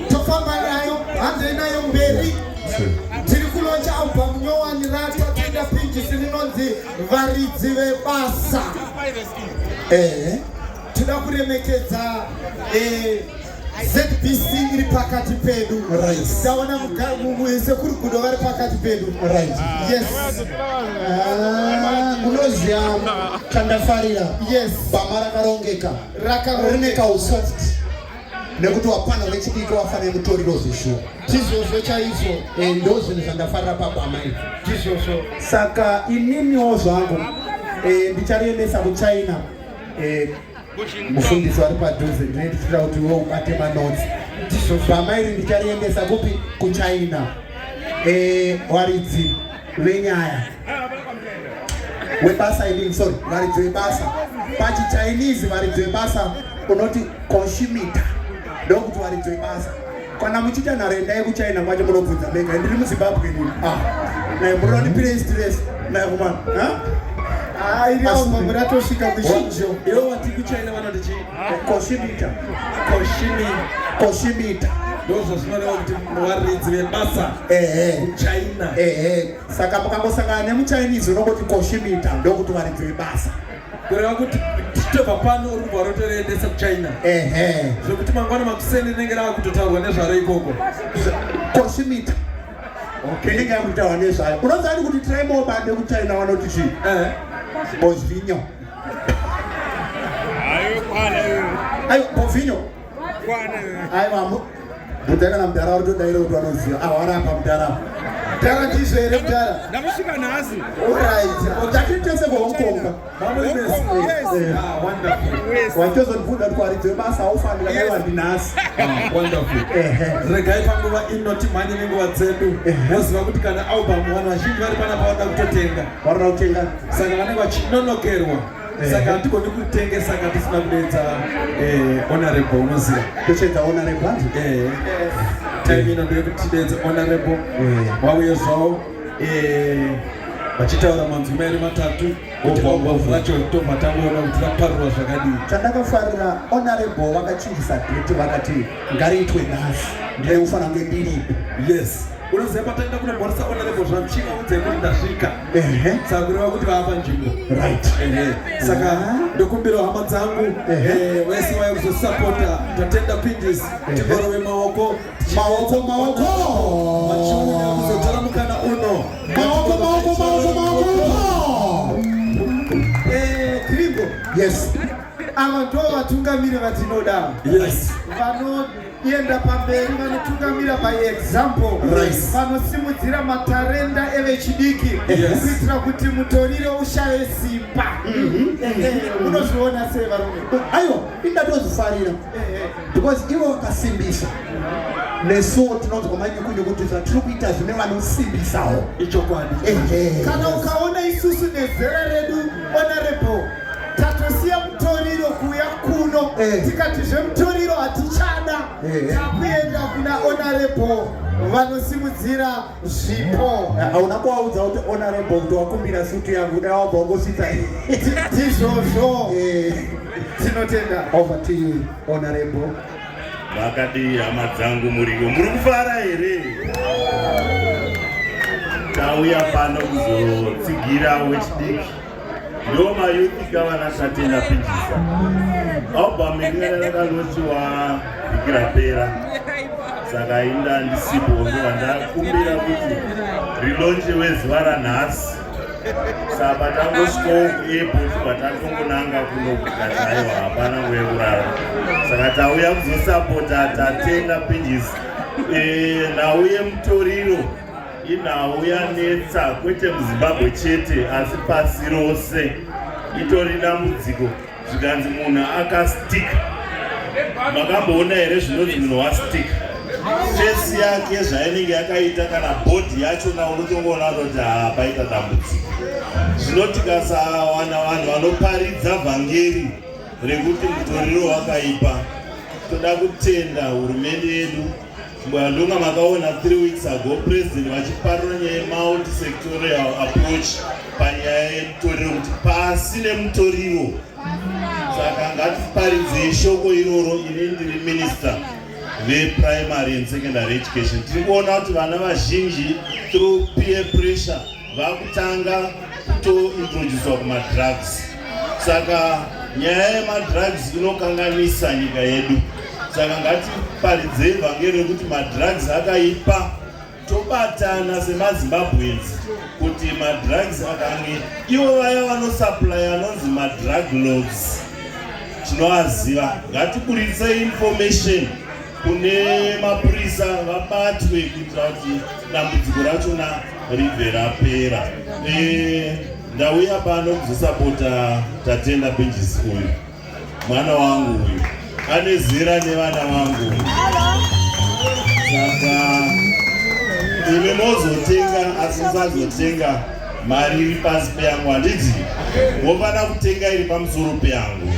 tofamba nayo hanzei nayo mberi tiri kulonja album nyowani rata tida pinjisi rinonzi varidzi vebasa ehe tinoda kuremekedza eh, zbc iri pakati pedu taona sekuru gudo vari pakati pedu unoziva ah, chandafarira bama rakarongeka rine kausati nekuti wapana vechidiki wafane mutoriro zvishuwa tizvozvo chaizvo eh, ndo zvinhu zvandafarira pabama izvo tizvozvo saka ininiwo zvangu eh, ndichariendesa kuchina eh, mufundisi wari padhuze ndine ndichitira kuti iwe ubate manotsi bama iri ndichariendesa kupi kuchina waridzi venyaya webasa idini sorry varidzo yebasa pachichinese varidzo yebasa unoti consumitor ndokuti varidzo yebasa kana muchiita nharo endai kuchina kwacho munobvunza mega ndiri muzimbabwe nini ah, naye munoda kuti pire stress naye kumana muratosvika ah, kuchinjo iwo wati kuchina vanoti chii consumitor consumitor ndozvazvinorewa kuti varidzi vebasa ehe kuchina ehe Saka mukangosangana nemuChinese unongoti koshimita ndokuti varidzi vebasa. Kureva kuti titobva pano uri kubva rotoendesa kuchina ehe zvekuti mangwana makuseni rinenge rava kutotaurwa nezvaro ikoko koshimita okay inenge yava kutaurwa nezvayo unoziva ni kuti trimo bande kuchina vanoti chii eh. bozvinyo ayo kwana ayo bozvinyo aiwa mudhara kana mudhara wari todaira kuti vanoziva ahwara apa mudhara mudhara ndizvo here mudhara ndakusvika nhasi orit takitese kuhong kong watozonibvunza kuti waridze basa aufanira kaiwandi nhasi regai panguva ino timhanye nenguva dzedu moziva kuti kana album vanhu vazhinji vari panapa vanoda kutotenga vanoda kutenga saka vanenge vachinonokerwa Eh. saka hatigoni kutengesa ka tisina kudeedza eh, honorable unoziva tochedza honorable hanzi eh, time ino ndeye kuti tideedze honorable vauye zvavo vachitaura manzwi mairi matatu ombombovu vacho tobva tangoona kuti vaparurwa zvakadii chandakafarira honorable vakachinjisa date vakati ngariitwe nhasi ndaiufanira kunge ndiripo yes unoziva pataenda kunomhoresa ona levo zvanchima udze kuti ndasvika saka kureva kuti vaapa nzvimbo right saka ndokumbira hama dzangu eh, vese vaya kuzosapota tatenda pindis tikorove maoko maoko maoko machiuya kuzotora mukana uno maoko maoko maoko maoko krigo eh, yes ava ndo vatungamiri vatinoda yes vano kuenda pamberi vanotungamira by example vanosimudzira right. matarenda evechidiki yes. kuitira kuti mutorire ushaye simba mhm. unozviona mm -hmm. sei varume aiwa indatozvifarira because ivo vakasimbisa nesuwo tinonzwa manyukunyukutiza tiri kuita zvine vanosimbisawo ichokwadi kana ukaona isusu nezera redu honorable tatosiya mutoriro kuuya kuno eh. tikati zvemutoriro hatichada eh. takuenda kuna honorable vanosimudzira zvipo eh, hauna kuvaudza kuti honorable kuti wakumbira sutu yangu dai wabva wangosvitsa ndizvozvo tinotenda over to you honorable vakadii hama dzangu muriyo muri kufara here tauya pano kuzotsigira wechidiki Yo ma yuti kava na shati na pinjisa. Oba mingere na ka lochi wa ikira pera. Saka inda ndi sipo ngiwa nda kumbira kuti rilonje we zwara nasi. Saba tango sko epo saba tango kunanga kuno kukatayo hapana we urara. Saka tauya kuzosapota tatenda pinjisa. Eh, na uye mtoriro. Inhau yanetsa kwete muZimbabwe chete asi pasi rose itori dambudziko zvikanzi munhu akastika. Makamboona here zvinonzi munhu wastika? Fesi yake zvainenge yakaita kana bhodhi yachona unotongoona kuti haa paita dambudziko. Zvino tikasawana vanhu vanoparidza vhangeri rekuti mutoriro wakaipa toda kutenda hurumende yedu Mbwandunga makaona 3 weeks ago president vachiparura nyaya yemulti sectorial approach panyaya yemutoriro kuti pasi nemutoriro saka ngatiparidzei shoko iroro ini ndiri minister veprimary and secondary education tiri kuona kuti vana vazhinji through peer pressure vakutanga kutointroducwa kumadrugs saka nyaya yemadrugs inokanganisa nyika yedu saka ngatiparidzei vhangeri rekuti madrugs akaipa tobatana semazimbabweans kuti madrugs akange ivo vaya vanosuplya anonzi madrug logs tinoaziva ngatiburitse information kune mapurisa vabatwe kuitira kuti dambudziko rachona ribve rapera eh, ndauya pano kuzosapota tatenda benjisi uyu mwana wangu uyu ane zera nevana vangu saka imi mozotenga asi musazotenga mari iri pasi peyangu handiti wofanira kutenga iri pamusoro peyangu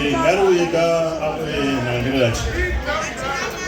eh, ngariuyeka eh, nangiro yacho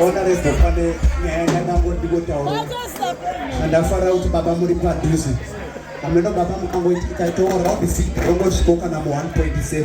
honorable pane nyaya yandango ndikotaura andafara kuti baba muri padhuze ameno baba mukangoitaitawo rabisi rongosviko kana mu 1.7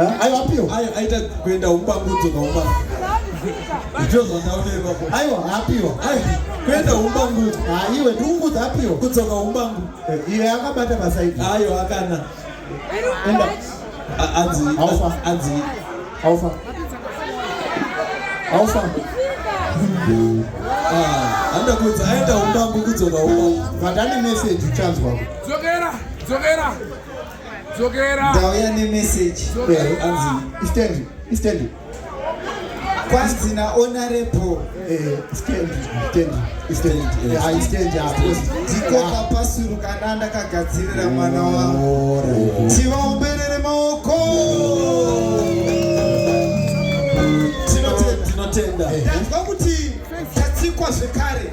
Eh, aiwa apio ayo aita kuenda umbangudzo kaumba ndizvo zvandaonekwa ko aiwa apio ayo kuenda umbangudzo ha iwe ndiungudza apio kudzoka umbangu Eh, iye akabata pasaidi ayo akana enda A- anzi Haufa. anzi aufa aufa ah, anoda kudza aenda umbangu kudzoka umbangu vadani message uchanzwa dzokera dzokera ndauya nemessage anzi istendi istendi kwanzi naonarepo ndikoka pasuru kana ndakagadzirira mwana wangu tivaomberere maoko tinotenda tanzwa kuti tatsikwa zvekare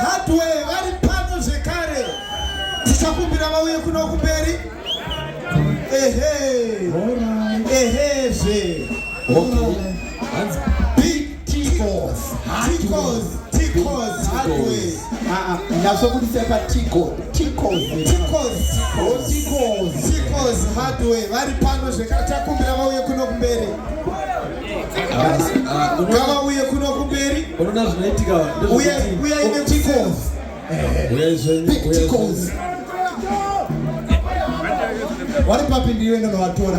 Hardware vari pano zvekare. Tichakumbira vauye kuno kumberi. Ehe. Ehe zve. Big T-Cos. T-Cos. T-Cos. Hardware. Ah, ah, ndazobudisa pa T-Cos. T-Cos. T-Cos. Oh, T-Cos. T-Cos. Hardware vari pano zvekare. Tichakumbira vauye kuno kumberi. ngavauye kuno kumberi unoona zvinoitika uye uye ine tikos tikos vari papi ndiyo ino novatora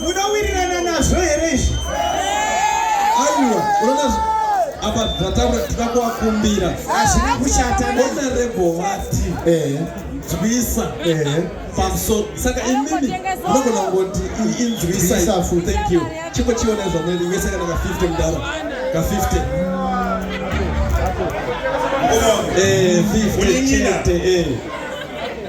Munowirirana nazvo here izvi? Aiwa, unaona apa zvataura tinoda kuvakumbira. Hazvina kushata. Honorable vati. Eh. Nzwisa. Eh. Pamusoro. Saka imimi unogona kungoti inzwisa. Nzwisa fu. Thank you. Chimbo chiona zvamweni iwe saka naka 50 mudaro. Ka 50. Eh, 50 chete. Eh.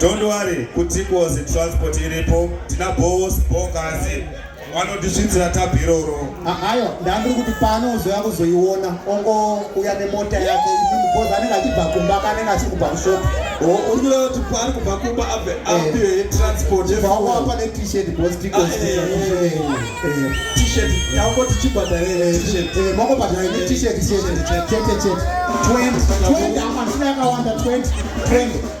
Don't worry, kutikozi transport iripo, tina boss bokazi vanotisvitsira tabhi iroro. Ayo, ndandiri kuti pano uzoya kuzoiona, ongo uya nemota yake, because anenge achibva kumba ka anenge achiri kubva kushop. Oh, uri kureva kuti paari kubva kumba abve eh. apiwe transport yefuel. Vauwa apa ne t-shirt because tikozi. Ah, eh, eh, t-shirt, yauko tichibhadhara t-shirt. Eh, moko bhadhara ne t-shirt, t-shirt, chete chete. 20, 20, amashina yakawanda 20, 20.